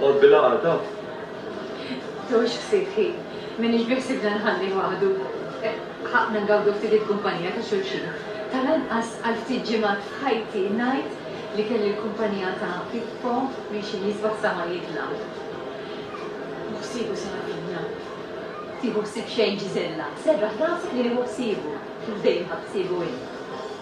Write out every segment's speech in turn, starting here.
Għodd bil-għaqda. Tgħoxx ftit ħin. M'iniex biħsibna nħalli waħdu. Ħaqqna ngawdu ftit il-kumpanija ta' xulxin. Tal-anqas għal ftit ġimgħat f'ħajti ngħid li kelli l-kumpanija ta' Pippo minn xi nisba sa ma jitla'. Hu ħsiebu se jagħtina. Tieħu ħsieb xejn Ġiżella. Serraħ rasek li hu ħsiebu. Hu dejjem ħa ħsiebu hi.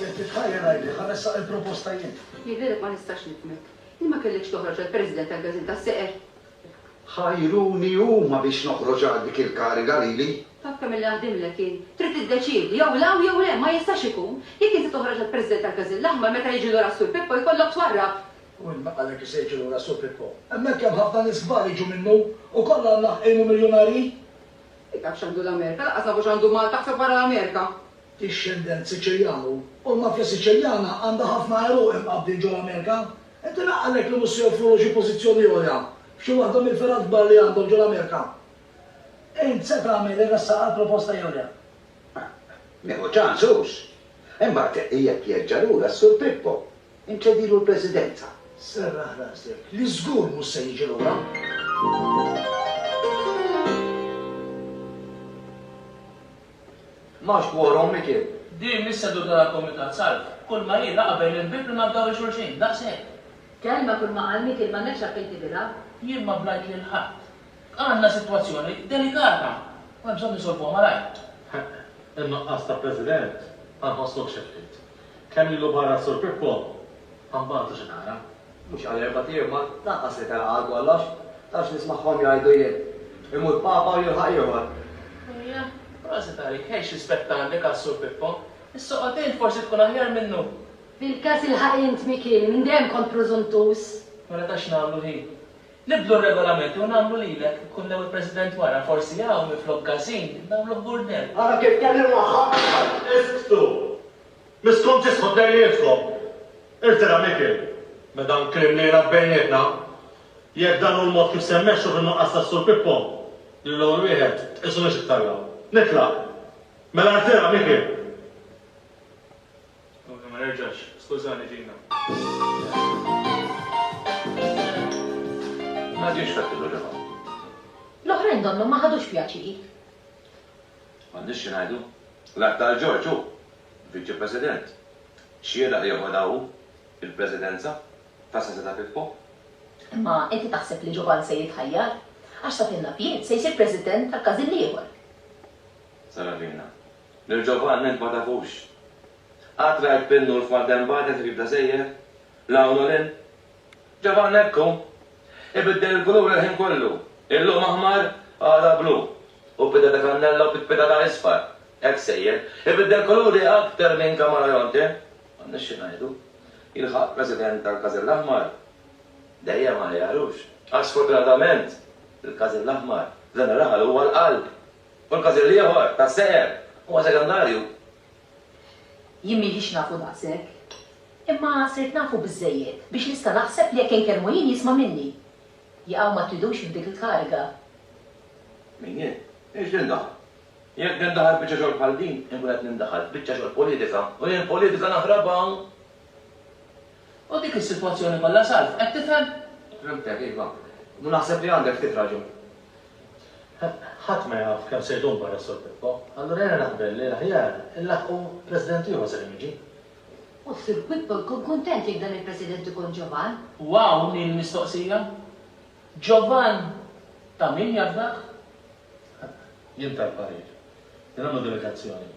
Jekk titħajjar għidli, ħa nressaq il-proposta jien. Jidhirlek ma nistax nifhmek. Li ma kellekx toħroġ għal President tal-Gażin tas-Seqer? Ħajruni huma biex noħroġ għal dik il-kariga lili. Taf kemm illi naħdimlek jien. Trid tiddeċiedi, jew la u jew le, ma jistax ikun. Jekk inti toħroġ għal President tal-Gażin l-Aħmar meta jiġi lura s-Sur Pippo jkollok twarrab. U min qalek li se jiġi lura s-Sur Pippo? Hemmhekk hemm ħafna nies kbar jiġu minnu u kollha mlaħqin u miljunarji. Min taf x'għandu l-Amerika, lanqas nafu x'għandu Malta ħseb wara l-Amerika. Dixxendent Siċiljan hu, u l-mafja Siċiljana għandha ħafna għeruq imqabbdin ġo l-Amerika. Inti naqallek li mhux se joffrulu xi pożizzjoni għolja f'xi waħda mill-fergħat kbar li għandhom ġo l-Amerika. Int se tagħmel irressaq għal proposta jew le? Nieħu ċans, hux? Imbagħad jekk jerġa' lura s-Sur Pippo. Inċedilu l-Presidenza. Serraħ rasek li żgur mhux se jiġi lura. M'hawnx quorum, Mikiel. Din mhix seduta ta' Kumitat Salv. Kulma hi laqgħa bejn il-bieb li nafdaw lil xulxin. Daqshekk. Kelma kull ma qal Mikiel m'għandekx għalfejn tibilha. Jien ma blajt lil ħadd. Għandna sitwazzjoni delikata u hemm bżonn insolvuha malajr. Ħeqq, in-nuqqas ta' President ma nħossux xi ftit. Kemm ilu barra s-Sur Pippo? Ma nbatu xi nara. Mhux għal erbat ijiem ma lanqas li telaq għal kollox. Tantx nismagħhom jgħidu jien. Imut Papa u jilħaq ieħor. Ejja, prosit għalik, ħejx rispett għandi każ Sur Pippo. Issoqgħod int forsi tkun aħjar minnu. Fil-każ ilħaq int Mikieli, minn dejjem kont prużuntuż. Mela ta' x'nagħmlu hi? Nibdlu r-regolamenti u nagħmlu lilek ikun hemm il-President wara, forsi hawn minflok Gasin nagħmluh Gurnell. Ara kif tkellimt magħha aktar! Isktu! Miskom tisħu tnejnietkom! Irtira Mikiel, me dan kliem li jingħad bejnietna. Jekk dan hu l-mod kif se mmexxu fin-nuqqas tas-Sur Pippo, lil hawn wieħed tqisunix iktar hawn. Nitlaq! Mela rtira Mikiel! Tkun ma nerġax, skużani Gina. M'għadix fettillu ġewwa. L-oħrajn donnhom ma ħadux pjaċir. M'għandniex xi ngħidu. L-Att għal Ġorġ hu Viċi President. Xieraq li joħodha hu l-Presidenza ta' San Zita Pippo. Imma inti taħseb li Ġovann se jitħajjar? Għax sa fil-Lapied se jsir President tal-każin l-ieħor. Saravina, Lil Ġovanni int ma tafux. Qatt rajt bin-nur f'Maldenbagħda kif jibda sejjer? 'l hawn u 'l hinn? Ġovanni hekk hu. Ibiddel il-kulur il-ħin kollu. Illum aħmar, għada blu. U b'idha ta' kannella u pitpita ta' isfar. Hekk sejjer. Ibiddel kuluri aktar minn kamaleonte. M'għandniex xi ngħidu. Jilħaq President tal-Każin l-Aħmar. Dejjem aħjar, hux? Għax sfortunatament, il-Każin l-Aħmar, f'dan ir-raħal huwa l-qalb Kull każin l-ieħor ta' sehem huwa sekondarju. Jien m'ilix nafu daqshekk. Imma sirt nafu biżżejjed biex nista' naħseb li jekk inkellmu jien jisma' minni. Jaqaw ma tridux f'dik il-kariga. Min jien? Hiex nindaħal. Jekk nindaħal f'biċċa xogħol bħal din, inkun qed nindaħal f'biċċa xogħol politika u jien politika naħrabha. U dik is-sitwazzjoni kollha salv, qed tifhem? Fhimtek, iva. U naħseb li għandek ftit raġun. Ħadd ma jaf kemm se jdum barra s-Sur Pippo, allura jiena naqbel li l-aħjar inlaħħqu President ieħor sakemm jiġi. U s-Sur Pippo jkun kuntent jekk dan il-President ikun Giovan. U hawn hi l-mistoqsija, Giovan ta' min jafdah? Jien tal-parir li nagħmlu delegazzjoni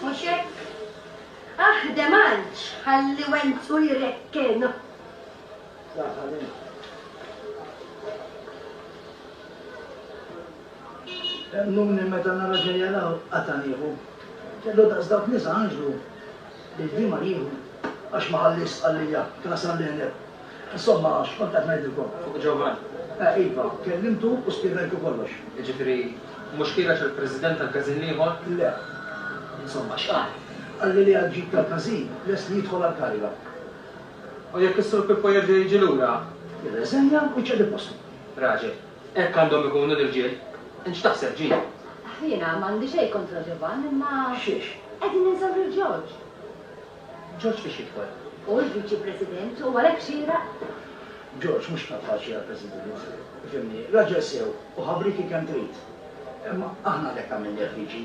Mhux hekk? Aħdem għalġ ħalli wenzu jrekkenu. Emmnuni meta nara xejn jaraw qatgħa nieħu. Kellu daqs dawk nies għanġlu li l-ħima jieħu. Għax ma ħalliex stqarrija, kien għasal l-għeneb. Insomma, x'kont qed ngħidilkom fuq Ġovann? Eh, iva, kellimtu u spjegajtu kollox. Jiġifieri, mhux kienet il-President tal-każin l-ieħor? Le. Insomma, x'qal? Qalli li għad-ġid tal-każin lest li jidħol għall-kariga. U jekk is-Sur Pippo jerġa' jiġi lura? Jirreżenja u jċedi postu. Raġel. Hekk għandhom ikunu l-irġiel. Int x'taħseb, Jean? Jiena m'għandi xejn kontra Ġovann imma. Xiex? Qegħdin ninsew lil George. George fiex jidħol? Hu l-Viċi President u għalhekk xieraq. George mhux kapaċi għall-President. Ifhimni, raġel sew u ħabrieki kemm trid. Imma aħna għalhekk għamilnieh Viċi.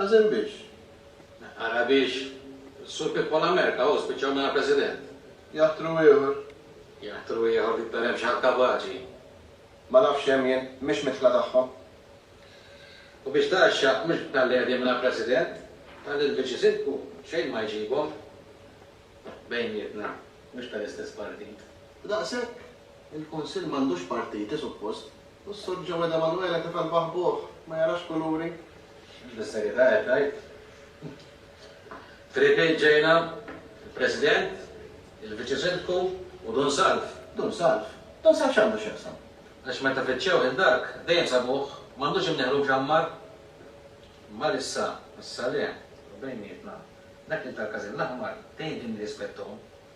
Ħażin biex? Ara biex Sur Pippo La Merca, hu, spiċċaw mingħajr President. Jaħtru ieħor. Jaħtru ieħor li jkun hemm xi ħadd kapaċi. Ma nafx x'hemm jien, mhix midħla tagħhom. U biex tgħaxxa, mhux talli qegħdin mingħajr President, talli l-Viċi Sindku xejn ma jġibhom bejnietna, mhux tal-istess partit. Daqshekk? Il-Kunsill m'għandux partiti, suppost. U s-Sur Joe Ed Emanuele tifel baħbuh, ma jarax kuluri. Bis-serjetà qed tgħid? F'ripiet ġejna, il-President, il-Viċi Sindku u Dun Salv. Dun Salv? Dun Salv x'għandu x'jaqsam? Għax meta fittxew lil Dark, dejjem sabuh, m'għandux imnieħlu mxammar. Mar issa għas-Salè, u bejnietna, dak li tal-Każin l-Aħmar, dejjem kien irrispettahom.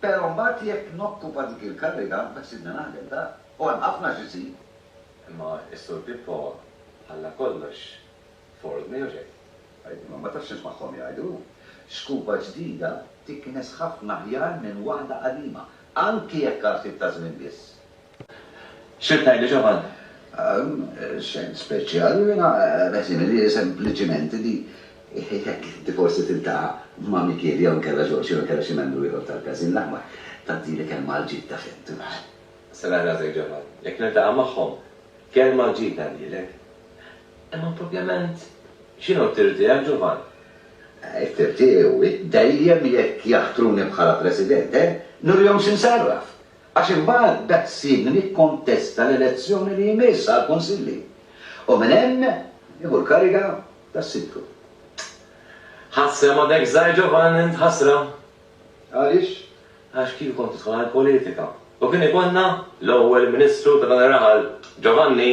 Pero mbagħad jekk nokkupa dik il-kariga ma jsibni naħdem daqq u hemm ħafna x'isir. Imma s-Sur Pippo ħalla kollox f'ordni jew xejn? Għid, imma ma tafx x'nismagħhom jgħidu. Xkupa ġdida tiknes ħafna aħjar minn waħda qadima, anki jekk għal ftit ta' żmien biss. X'qed tgħidli Ġovanni? Xejn speċjali, jiena qed ngħidli sempliċiment li jekk inti forsi tiltaqa' ma' Mikiel jew inkella Ġorġ jew inkella xi membru ieħor tal-Każin l-Aħmar, tgħaddili kelma għal ġid ta' fettuh. Sera' rasek Ġovanni, jekk niltaqa' magħhom, kelma għal ġid ngħaddilek. Imma propjament x'inhu t-tir tiegħek Ġovanni? It-tir tiegħi hu dejjem jekk jaħtruni bħala President, nurihom x'insarraf. Għax imbagħad dak ssibni nikkontesta l-elezzjoni li jmiss għall-Kunsilli u minn hemm nieħu l-kariga ta' Sindku. Ħasra ma b'hekk żgħir ġovan int, ħasra! Għaliex? Għax kieku kont tidħol għall-politika u kien ikollna l-ewwel Ministru ta' dan ir-raħal, Giovanni,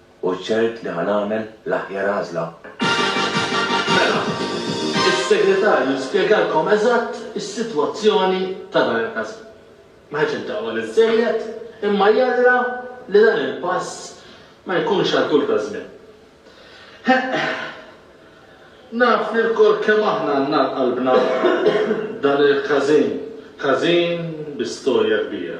U ċert li ħa nagħmel l-aħjar għażla. Mela, is-Segretarju spjegalkom eżatt is-sitwazzjoni ta' dan il-każin. Ma ħadx id-dahwa biżżejjed, imma jalla li dan il-pass ma jkunx għal tul ta' żmien. Heq. Naf li lkoll kemm aħna għandna għal qalbna dan il-każin, każin bi storja kbira.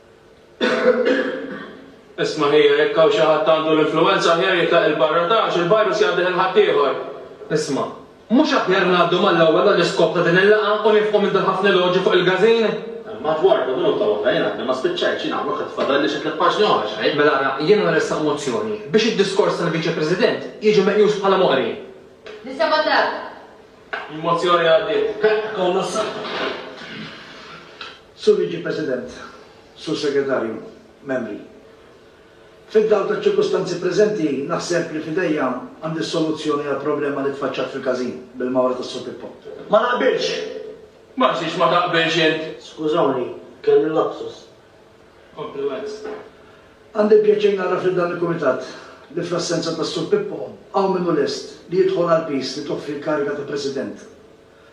Isma' ħija, jekk hawn xi ħadd għandu l-influwenza aħjar jitlaq 'il barra ta' għax il-virus jgħaddih 'il ħaddieħor. Isma', mhux aħjar ngħaddu mal-ewwel għall-iskop ta' din il-laqgħa u nifqu minn dal-ħafna eloġju fuq il-gazin? Imma Edwardo, minuta waħda, jien għadni ma spiċċajtx, jien hawnok qed fadalli xi tliet paġni oħra, x'għid? Mela ara, jiena nressaq mozzjoni biex id-diskors tal-Viċi President jiġi meqjus bħala moqri. Nisebgħu dak. Il-mozzjoni għaddiet. Ikollna s-saħħa. Sur Viċi President, Sur Segretarju, Membri, fid-dawl taċ-ċirkustanzi preżenti naħseb li f'idejja għandi s-soluzzjoni għall-problema li tfaċċat fil-każin bil-mawra tas-Sur Pippo. Ma naqbilx! Ma nsiex ma taqbilx int! Skużawni, kelli lapsus. Compliments. Għandi l-pjaċir ngħarraf lil dan il-Kumitat li fl-assenza tas-Sur Pippo hawn min hu lest li jidħol għall-piż li toffri l-kariga ta' President.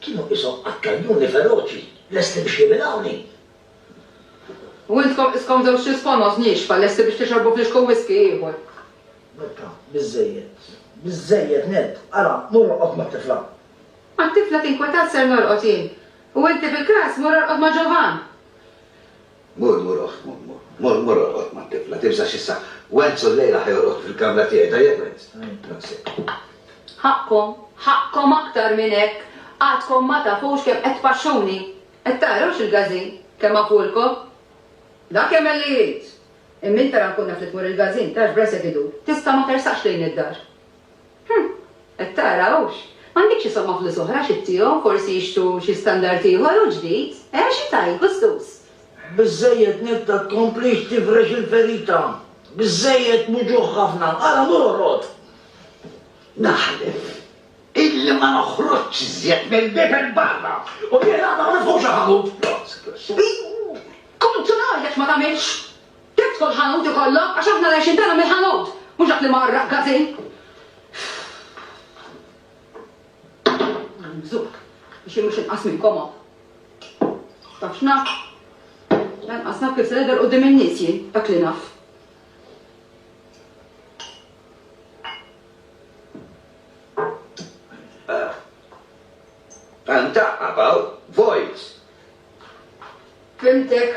Kienu qishom qattanjuni feroċi, lesti biex jimilawni. U intkom qiskom żewġ tisfonos niexfa, lesti biex tixorbu flixku whisky ieħor. Berta, Biżżejjed. Biżżejjed nett. Ara, mur orqod mat-tifla. Mat-tifla tinkwetat ser norqod jien. U inti bil-kras mur orqod ma' Ġovann. Mur, mur oħt, mur, mur. Mur, mur orqod mat-tifla. Timsax issa. Wenz u llejla ħa jorqod fil-kamra tiegħi, tajjeb Wenz? Daqs hekk. Ħaqqkom, ħaqqkom aktar minn hekk. Għadkom ma tafux kemm qed tpaxxuni. Qed taraw x'il-gażin, kemm għafulkom? Dak jagħmel li jrid. Imma int ara nkun naf li tmur il-gażin, tarax b'rasek idur. Tista' ma tersaqx lejn id-dar. Hm! Qed tara, hux? M'għandekx isom ma' flus oħra xi ttihom, forsi jixtru xi standard ieħor u ġdid? Eh, xi tgħid, Gustus? Biżżejjed Netta tkomplix tifrex il-ferita! Biżżejjed muġugħ ħafna! Ara mur oħrod! Naħlef illi ma noħroġx iżjed mill-bieb 'il barra u jien għad ma nifhmx il-ħanut! Ħuż! Kum, tum, ħa, jekk ma tagħmilx! Kemm tkun ħanut ikollok għax aħna l-għajxien tagħna mill-ħanut, mhux dak li ma r-raqqasin. Nagħmżuk biex jien mhux inqas minnkom hawn. Taf x'naf? Lanqas naf kif se nidher quddiem in-nies jien, dak li naf. Għandaq about voice. Fimtek.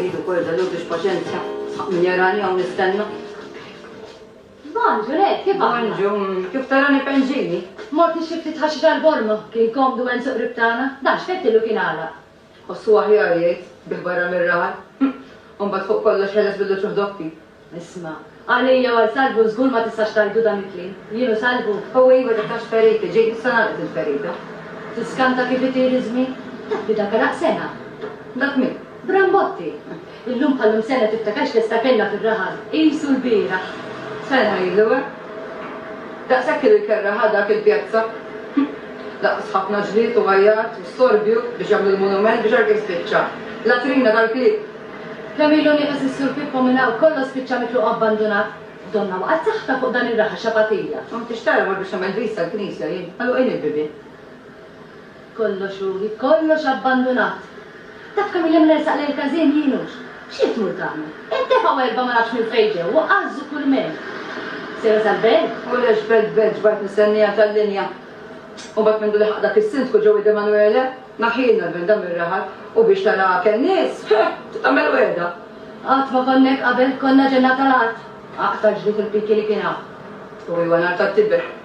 Irrid ukoll żalur biex paċenzja. Sħaq min jarani hawn nistenna. Bon, Ġuliet, kif aħna? Bonġu, kif tarani penġini? Mort nixtri ftit ħaxix għall-borma. Kien komdu hemm suq qrib tagħna. Dan x'fettilu kien għalaq. Tħossu aħjar, jgħid, bih barra mir-raħal? Hm! U mbagħad fuq kollox ħeles bil-luċuħ doppi. Isma', għalija u għal Salvu żgur ma tistax tgħidu dan il-kliem. Jien u Salvu? Hu iva dak għax feriti, ġej issa nagħlqu dil-ferita. Tiskanta kif itir iż-żmien? Taf li dak għalaq sena. Dak min? Brambotti! Illum bħal-lum sena tiftakar x'festa kellna fir-rahan. Qisu l-bieraħ. Sena ilu, eh? Daqshekk ilu jkerraha dak il-pjazza. Daqs ħafna ġlied u għajjat u storbju biex jagħmlu l-munument biex hekk jispiċċa. Latrina tal-klieb! Kemm ilu nieqes is-Sur Pippo minn hawn, kollox spiċċa mitluq u abbandunat. Donnha waqgħet saħħitha fuq dan ir-raha xabatija. M'għamiltx tarba biex nagħmel vista l-knisja jien. Magħluqin il-bibien. Kollox hu, hi kollox abbandunat. Taf kemm ilhem nersaq lejn każin jien hux. X'qed tmur tagħmel? Qed tefgħu erbgħa ma nafx minn fejn ġew u għażżu kull mejl. Sejra sal-belt? U lex belt belt x'baqgħet mistenniha tal-linja? U mbagħad mindu leħaq dak is-Sindku Joey Demanuele, naħħielna l-belt dan mir-raħal u biex taraha kenn nies, heh! Trid tagħmel wegħda. Qatt ma konna hekk qabel, konna ġenna tal-art. Aqta' ġlied il-piki li kien hawn. U iwa nhar tat-tibigħ.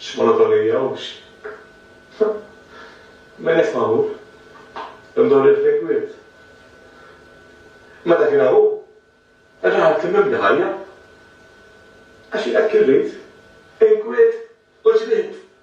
X'monotonija hux? Min qed magħmul? Imdorri l-fekwiet? Ma dak inha hu! Raha temmimni ħajja! Għax jien hekk irrid, inkwiet u ġrid!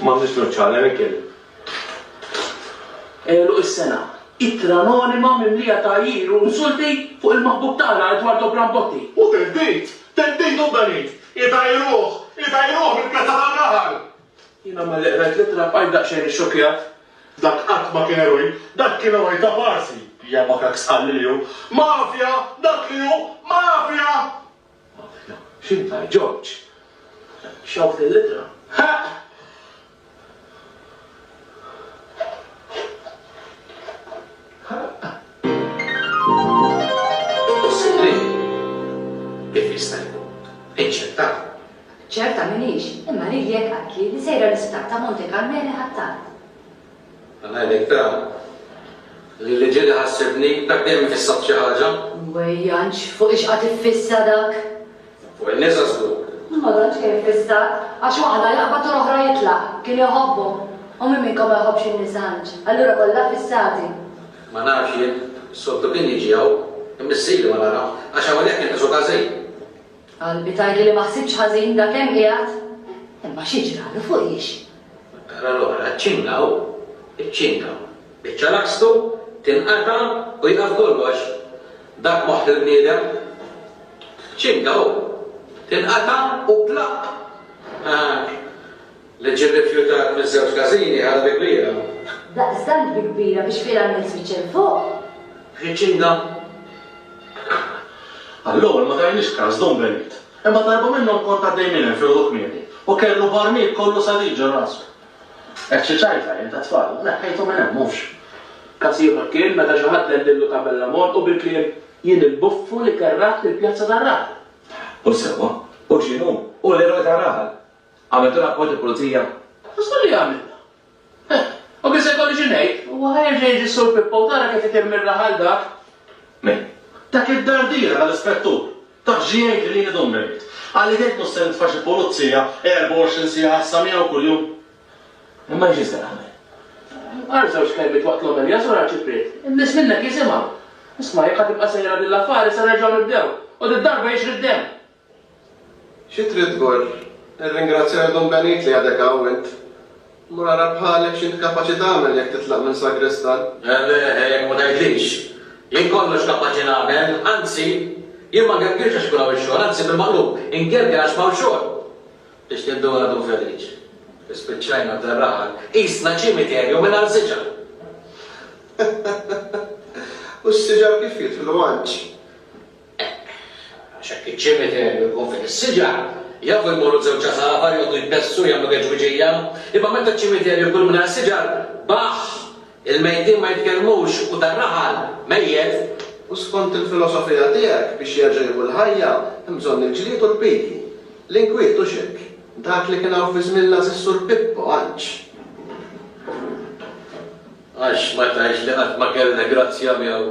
M'għandniex nuċċa le Mikiel. Għeluq is-sena. Ittra anonima mimlija tgħajjir u insulti fuq il-maħbub tagħna Eduardo Brambotti. U theddid! Theddid u benid! Itajruh! Itajruh mill-Pjazza tar-Raħal! Jiena malli qrajt l-ittra bqajt daqsxejn ixxokkjat. Dak qatt ma kien eroj! Dak kien eroj ta' parsi! Jabakaks qalli li hu. Mafja! Dak li hu! Mafja! Ħafna. X'int għal George? Xewqt il-ittra. Possibbli kif jista' jkun? Inċertata. Ċerta m'iniex, imma lili hekk qaltli li sejra l-isptar ta' Monte Carmele Ħ'Attard. Ngħidlek però li li ġieli ħassibni, dak dejjem ifissat xi ħaġa. Wejjanx, fuq ix qagħad iffissa dak? Fuq in-nisa żgur. Ma tantx kien iffissat, għax waħda jaqbad u l-oħra jitlaq, kien iħobbhom. U min minnkom ma jħobbx in-nisa għandx, allura kollha ffissati. Ma nafx jien, soltu kien jiġi hawn, imma missieri ma nara, għax hawnhekk inqisu każin. Qalbi tgħidli li ma ħsibx ħażin dak hemm qiegħed. Imma xi ġralu fuq hix? Tara l-oħra ċċingaw, iċċingaw. Iċċalakstu, tinqata' u jieqaf kollox. Dak moħħ il-bniedem. Tċċingaw, tinqata' u plaqq! Haa! Li ġie rrifjutat minn żewġ każini ħaġa bi kbira. Daqstant bi kbira biex finalment spiċċa 'l fuq. Riċinga. Għall-ewwel ma tajniex kas dun Benit. Imma darba minnhom kont għaddej minn hemm filgħodu kmieni u kellu barmil kollu saliġa r' rasu. Hekk xi ċajta jien tat-tfal u neħħejtu minn hemm, hux? Kas ieħor kien meta xi ħadd dellillu tabella m' għonqu bil-kliem, Jien il-buffu li kerraħt il-pjazza tar-raħal. Hu sewwa, hu x'inhu, hu l-eroj tar-raħal. Għamiltu rapport il-Pulizija? Għax hu li għamilna. Eh, u kif se jkolli xi ngħid? Huwa ħa jerġa' jiġi s-Sur Pippo u tara kif itir mirħ għal dak. Min? Dak id-dardiera tal-Ispettur. Taf xi jgħidli lili dun bejniet? Qalli tgħid mhux se nitfa' xi Pulizija 24 siegħa issa miegħu kuljum. Imma xi se nagħmel? Qal żewġ kelmiet waqt l-omelija Sur Arċipriet. In-nies minnek jisimgħu. Isma' jekk ħa tibqa' sejra din l-affari se nerġgħu nibdew. U did-darba jixri d-demm. Xi trid tgur? Irringrazzja lil Dun Benit li għadek hawn int. Mur ara bħalek x'int kapaċi tagħmel jekk titlaq minn sagristan. Le, jekk ma tgħidlix. Jien kollox kapaċi nagħmel, anzi, jien ma ngergirx għax ikun hawn ix-xogħol, anzi bil-maqlub, ingergir għax m'hawn xogħol. Biex tinduna Dun Feliċ, ispiċċajna f'darraħa, qisna ċimiterju mingħajr siġar. U s-siġar kif jidħlu Anġ? Hekk. Għax hekk iċ-ċimiterju jkun fih is-siġar, jafu jmorru żewġ għasafar, joqogħdu jbessu, jagħmlu geġwiġija. Imma meta ċ-ċimiterju jkun mingħajr siġar, baħħ! Il-mejtin ma jitkellmux u dar-raħal, mejjet. U skont il-filosofija tiegħek, biex jerġa' jieħu l-ħajja, hemm bżonn il-ġlied u l-piki. L-inkwiet, hux hekk? Dak li kien hawn fi żmien l-Assessur Pippo, għax. Għax ma tgħidx li qatt ma kellna grazzja miegħu?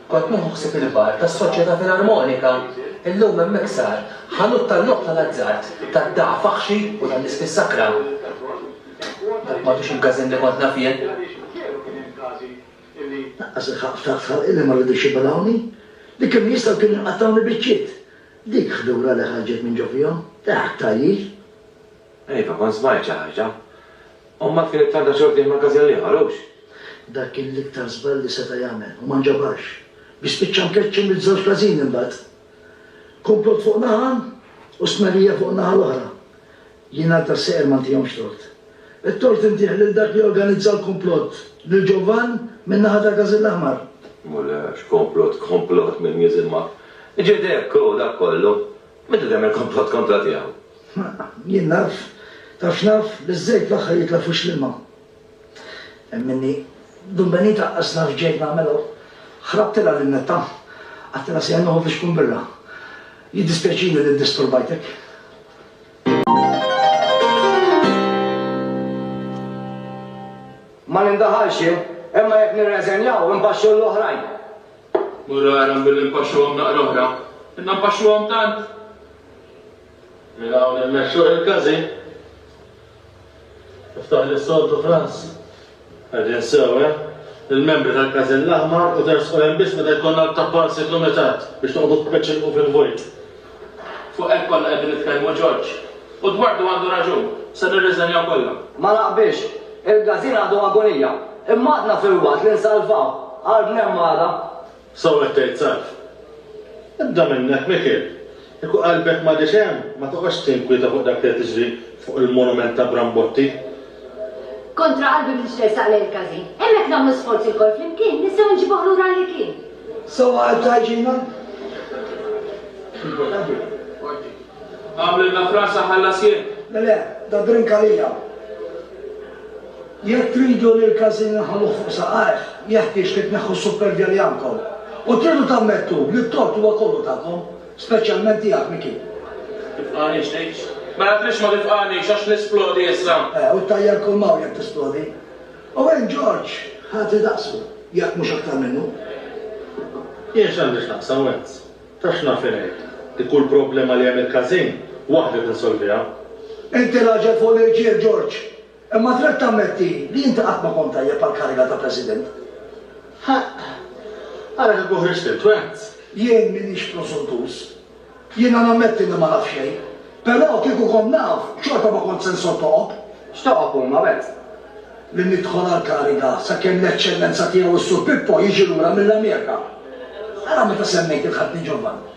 Kont nieħu ħsieb il-bar tas-Soċjetà Filarmonika. Illum hemm iksar, ħanut tal-logħob tal-azzard, tad-dagħa faħxi u tal-ispis sakra. Dak m'għadux il-Gazin li kont naf jien. Lanqas il-ħaqq ftaħt ħalqi li ma ridux jibelgħuni. Li kienu jistgħu kienu jqattgħuni biċċiet. Dik ħdura li ħarġet minn ġo fihom, dehhak tgħajjir. Iva, kont smajt xi ħaġa. Ommha kienet għandha xogħol fih magażin l-ieħor, hux? Dak kien l-iktar żball li seta' jagħmel u ma nġabarx, biex spiċċa mkeċċi mill-żewġ każini mbagħad. Kumplott fuq naħa u stmerrija fuq in-naħa l-oħra. Jien għal tas-seqer ma ntihomx tort. It-tort intih lil dak li organizza l-kumplott, lil Ġovan min-naħa tal-Każin l-Aħmar. Mulej, x'kumplott, kumplott mill-Museum of. Ġiet hekk, hu dak kollu. Min qed jagħmel komplott kontra tiegħu? Ma jien naf, taf x'naf, li ż-żejt fl-aħħar jitla' f'wix l-ilma. Hemm minni, Dun Benita qas naf x'ġejt nagħmel hawn. Ħrabtilha lil Netta, għadtilha sejjer noħod li xkun birra. Jiddispjaċini li ddisturbajtek. Ma nindaħalx jien, imma jekk nirreżenja u nbaxxu 'l oħrajn. Mura għarhom billi npaxxuhom naqra oħra. Inna npaxxuhom tant! Minn hawn immexxuh il-każin. Iftaħ li s-soltu Franz. Qegħdin sew, eh? Il-membri tal-każin l-aħmar u tersqu hemm biss meta jkollna l-tappan sikklumitat biex noqogħdu b'peċ ilqu fil-vojt. Fuq hekk konna qegħdin nitkellmu George. U dwardu għandu raġun. Se nirriżenjaw kollha. Ma naqbilx. Il-Gazin għadu agonija. Imma għadna filwaqt li nsalvaw. Għal bnhemm għada. Sew qed tgħid Sarf. Ibda minnek Mikiel. Kieku qalbek m'għadhiex hemm, ma toqgħodx tinkwieta fuq dak li qed jiġri fuq il-monument ta' Brambotti. Kontra qalbi bdiet tersaq lejn il-każin. Hemmhekk nagħmlu sforz ilkoll flimkien, nistgħu nġibuh lura li kien. Sewwa qalbtu għajxina? Importanti. Qorti. Agħmlilna fras aħallas jien. Le le, da drink għalija. Jekk tridu li l-każin inħalluh fuq saqajh, jeħtieġ li tneħħu s-suppervja li għandkom. U tridu tammettu li t-tort huwa kollu tagħkom. Speċjalment tiegħek, Micky. Tibqagħnix tgħix. Mela tridx ma tibqagħnix għax nisplodi issa. Eh, u ttajjar kull m'hawn jekk tisplodi. U hinn George ħati daqsu, jekk mhux aktar minnu. Jien x'għandi x'naqsam Wenz? Ta' x'naf inhi? Hi kull problema li hemm il-każin, waħdi tinsolviha. Inti raġel fuq l-irġiel, George. Imma trid tammetti li inti qatt ma kont tajjeb għall-kariga ta' President. Ħaqq! Ara kieku ħriġt int, Vance! Jien m'iniex prosuntuż. Jiena nammetti li ma naf xejn. Però kieku kont naf, xorta ma kont se nsottogħob. X'toqgħod tqulna, Vance? Li nidħol għall-kariga sakemm l-Eċċellenza Tiegħu s-Sur Pippo jiġi lura mill-Amerika. Ara meta semmejt il-Ħadni Giovanni.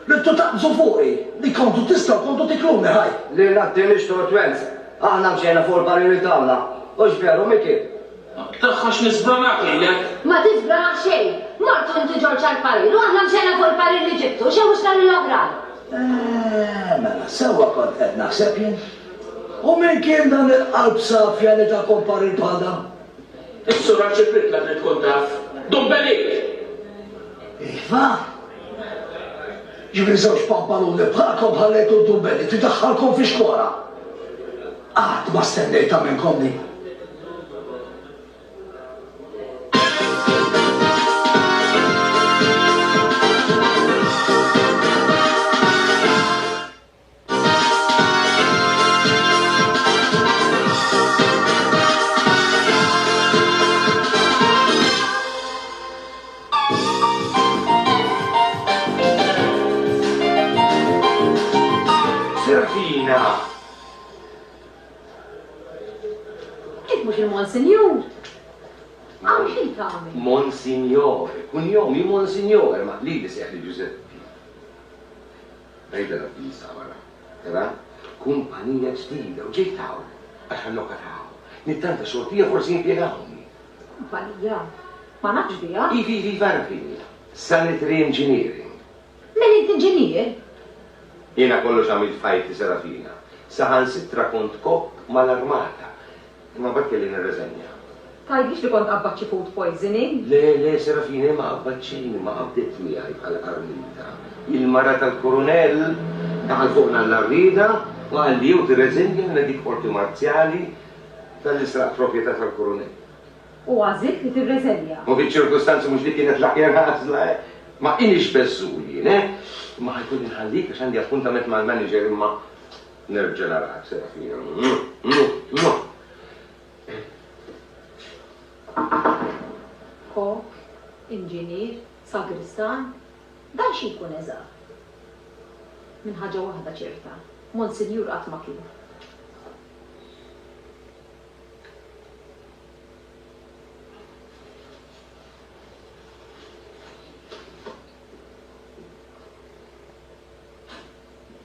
Ridtu taqbżu fuqi, li kontu tistgħu kontu tikluni ħaj. Lilna t-Tienix Tortwelz, aħna mxejna fuq il-barriri tagħna, hux veru Mickey? Tagħha x'nisbranha kejlek? Ma tisbrana xejn! Mortu inti Ġorġ għall-parir u aħna mxejna fuq il-parir li ġibtu, xewwixna lill-oħrajn. Eeh, mela, sewwa kont qed naħseb jien. U min kien dan il-qalb safja li takom parir bħal dan? Is-sura ġibitlek li tkun taf. Dumbelit! Iva! Ġifieri żewġ pampaluni bħalkom ħallejtu d-dumbelli tidaħħalkom fi xkora. Qatt ma stennejtha minnkom din. Servina! Jekk mhux il-Monsinjur! Hawn xi tagħmel? Monsinjor. Kunjomi Monsinjor, ma lili seħħli Ġużeppi. Tgħidha l-avviża wara. Tara? Kumpanija ġdida u ġejt hawn għax għal-logħka ta' hawn. Nittanta xortija forsi jimpjegawni. Kumpanija? Ma nafx biha. Iva, iva, iva għaraf li hija. Sanitary Engineering. Mela int inġinier? Jiena kollox għamilt f'ħajti, Serafina. Saħansitra kont kop mal-armata. Imma mbagħad kelli nirriżenja. Tgħid biex li kont qabbad xi food poisoning? Le, le, Serafina, hi ma qabbadtxini, ma qabdiet miegħi bħala qarnita. Hi l-mara tal-Kurunell! Daħal fuqna Alla Rieda u qal li jew tirreżinja minn dik qorti marzjali talli sraqt proprjetà tal-Kurunell. U għażilt li tirreżenja. U fiċ-ċirkustanzi mhux dik kienet l-aħjar għażla, eh? Ma inix beżżul jien, eh? Imma ħajkolli nħallik għax għandi appuntament mal-manager imma. Nerġa' nagħlaq Serafina. Kok, inġinier, sagristan, dan xi jkun eżatt? Minn ħaġa waħda ċerta, Monsinjur qatt ma kien.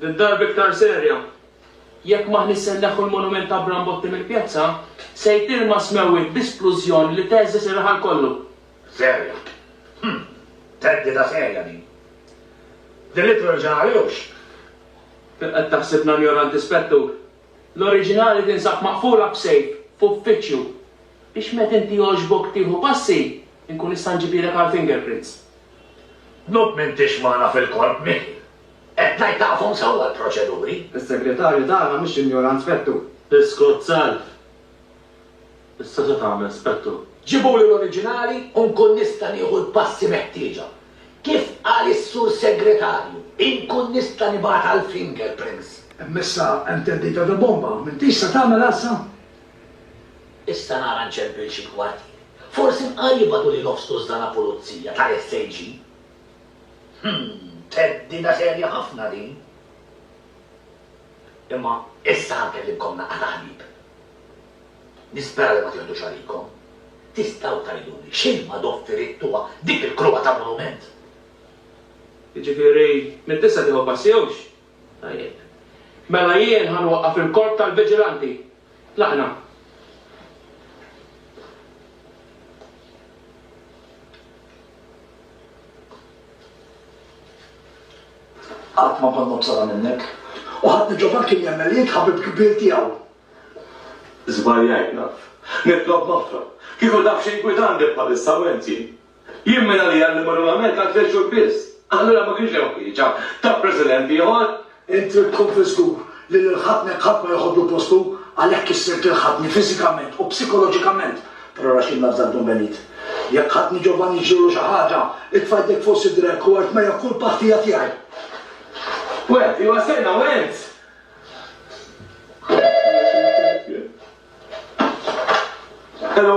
Din darba iktar serja. Jekk m'aħniex se nneħħu l-monument ta' Bram Botti mill-pjazza, se jtir ma' smewwiet bi splużjoni li teżżeż ir-raħal kollu. Serja. Hm! Theddida serja din. The literal ġenerali Hux. Qed taħsibna injoranti, Spettur? L-oriġinali tinsab maqfula b'sejf f'uffiċċju. Biex meta inti jogħġbok tieħu passi, inkun nista' nġibilek għall-fingerprints. Tnudd m'intix magħna fil-korp, Mickey. Qed ngħid tafhom sewwa l-proċeduri. Is-Segretarju tagħna mhux injorant Spettur. Iskot self! Issa se tagħmel Spettur? Ġibuli l-oriġinali u nkun nista' nieħu l-passi meħtieġa. Kif qal is-Sur Segretarju, inkun nista' nibgħat għall-fingerprints. Imma issa hemm theddida ta' bomba, m'intix se tagħmilha issa? Issa nara nċempil xi kwartieri. Forsi nqar jibgħatu lil Ofstu Zdana Pulizija tal-SAG. Hm, theddida serja ħafna din. Imma issa ħankellimkom naqra ta' ħbieb. Nispera li ma tiħdux għalikom. Tistgħu tgħiduli x'ilma doffirittuha dik il-kruha ta' monument? Jiġifieri, minn issa tieħu passi jew x'? Tajjeb. Mela jien ħa nwaqqaf il-korp tal-viġilanti. Tlaqna. Qatt ma kont nobsodha minnek. U ħadd minn ġofan kien jemmen li int ħabib kbir tiegħu. Żbaljajt naf. Nitlob nofra. Kieku taf x'inkwitandi bħalissa u int jien. Jien minn għalija li mmur mal-Amerika għal tliet xhur biss. Allura ma kienx hemm ħtieġa ta' President ieħor. Int trid tkun fiż-żgur li lill-ħatnek ħadd ma joħodlu postu, għalhekk issirt il-ħatni fiżikament u psikoloġikament. Però ara x'inna f'dak Dun Benit. Jekk ħatni Giovanni ġrilu xi ħaġa, itfa' jdejk fuq sidrek u għid ma hija kulpa ħtija tiegħi. Went, iva stenna, went! Hello!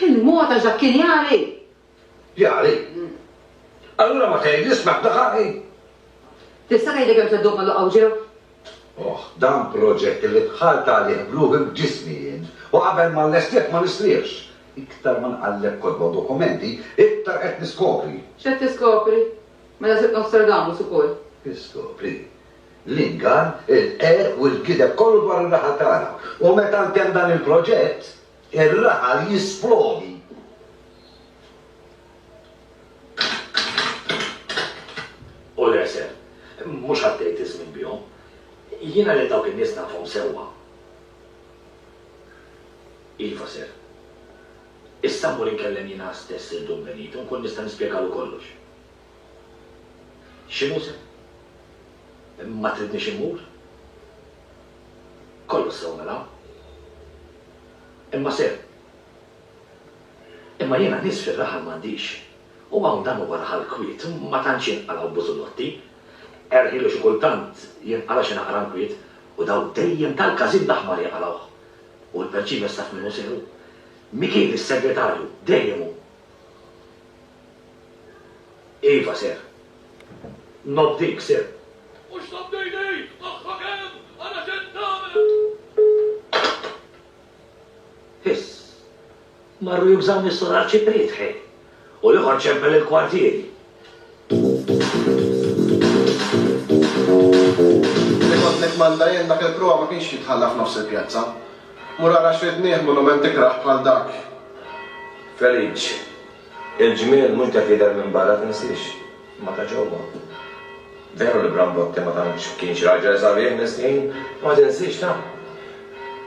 Il-mod għax dak kien jagħri. Jagħri? Allura ma tgħid ismek daħari. Tista' tgħidli kemm se ddum laqgħu ġew? Oh, dan proġett li bħal tagħlih bluħi b'ġismi jien u qabel ma lestiet ma nistriex. Iktar ma nqalleb kodba dokumenti, iktar qed niskopri. X'qed tiskopri? Mela sibt Nostradamus ukoll. Iskopri. L-ingan, il-qerq u l-gideb kollu dwar ir-raħal tagħna. U meta ntemm dan il-proġett, ir-raħal jisplodi. U l-għesel. Mhux għaddejt iż-żmien bihom. Jiena lil dawk in-nies nafhom sewwa. Iva, Sir. Issa mmur inkellem jiena stess lil Dun Benito, nkun nista' nispjegalu kollox. X'inhu se? Ma tridnix immur? Kollox sew mela. Imma se. Imma jiena nies fir-raħal m'għandix. U hawn dan huwa raħal kwiet, ma tantx jinqalgħu bużulotti. Erħielu xi kultant jinqala' xi naqra nkwiet, u dawn dejjem tal-każin l-aħmar jaqalgħuh. U l-perċiv jessaf minnu sew. Min kien is-Segretarju? Dejjem hu. Iva, Sir. Nobdik, Sir. Mhux tobdini! Aħħak hemm! Ara x'qed tagħmel! Hiss! Marru jużawni s-Sur Arċipriet, ħej! U l-ieħor ċempel il-kwartieri. Li kont nittmanda jien dak il-pruha ma kienx jitħalla f'nofs il-pjazza. Mur ara x'ridnieh monument ikrah bħal dak. Felice, Il-ġmiel mhux qed jidher minn barra, tinsiex. Imma ta' ġewwa. Veru li Brambotti ma tantx kienx raġel sabiħ miskin, ma tinsiex ta'.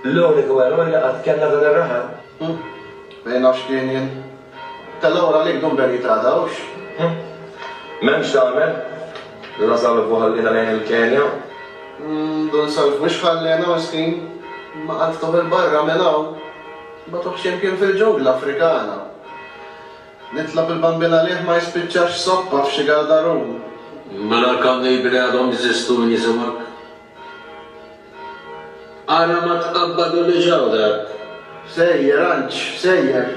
L-uniku eroj li qatt kellna dan ir-raħal. Hm. Min naf x'kien jien. Tellgħu għalik dun Benji t'għada, hux? Hm. M'hemm x'tagħmel. Dun Asalvu ħalliena lejn il-Kenja. Hm, dun Salv mhux ħalliena miskin. Imma qalbtuh 'il barra minn hawn. Bagħtuh xi mkien fil-ġungla Afrikana. Nitlob il-Bambin għalih ma jispiċċax soppa f'xi gardarun. Mela l-kannibli għadhom jeżistu min jisimak? Ara ma tqabbadulix hawnhekk! Sejjer, Anġ, sejjer.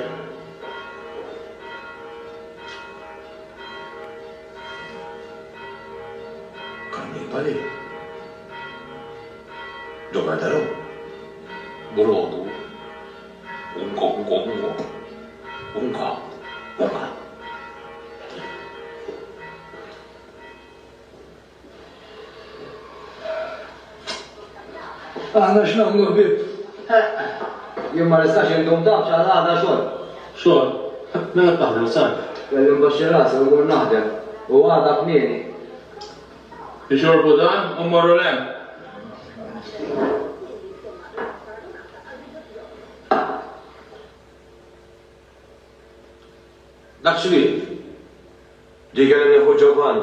Kannibali? Ġo gardarun? Brodu, Unka unka unka unka unka. Aħna x'nagħmlu ħbieb? Jien ma nistax indum dawk għal għada xogħol. Xogħol? Mela taħdem sar. Kelli mbaxxi rasi u mmur naħdem u għada kmieni Ixorbu dan u mmorru l-hemm. Dak x'ried? Dik kellha nieħu Ġovann.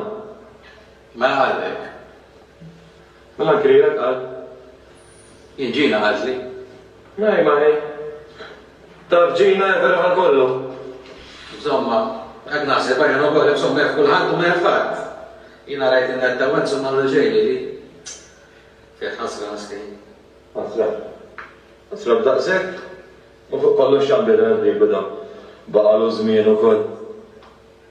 Mela ħallek. Mela l-għajr qal, Jinġina għażli. Mari mari. Taf Ġina hekk raha kollu. Insomma, qed naħseb għalihom ukoll, insomma jaf kulħadd u ma jaf ħadd. Jiena rajt in-netta u insomma għamlu xejn lili. Fih ħasra miskin. Ħasra. Ħasra b'daqshekk? U fuq kollox x'għamliet il-ħbieb u dawn. Baqgħulu żmien ukoll.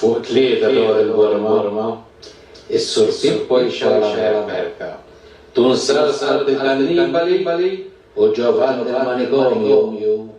Fuq tlieta dwar il-Burma, is-Sur Pippo jxorr l-Amerika. Tun Sarsar di Cannibali u Giovanni del Manicomio.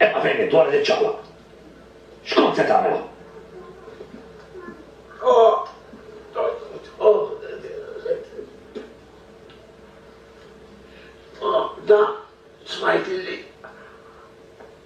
Imma fejn int wara li ċċaqlaq? X'kont se tagħmel? Waħda smajt illi.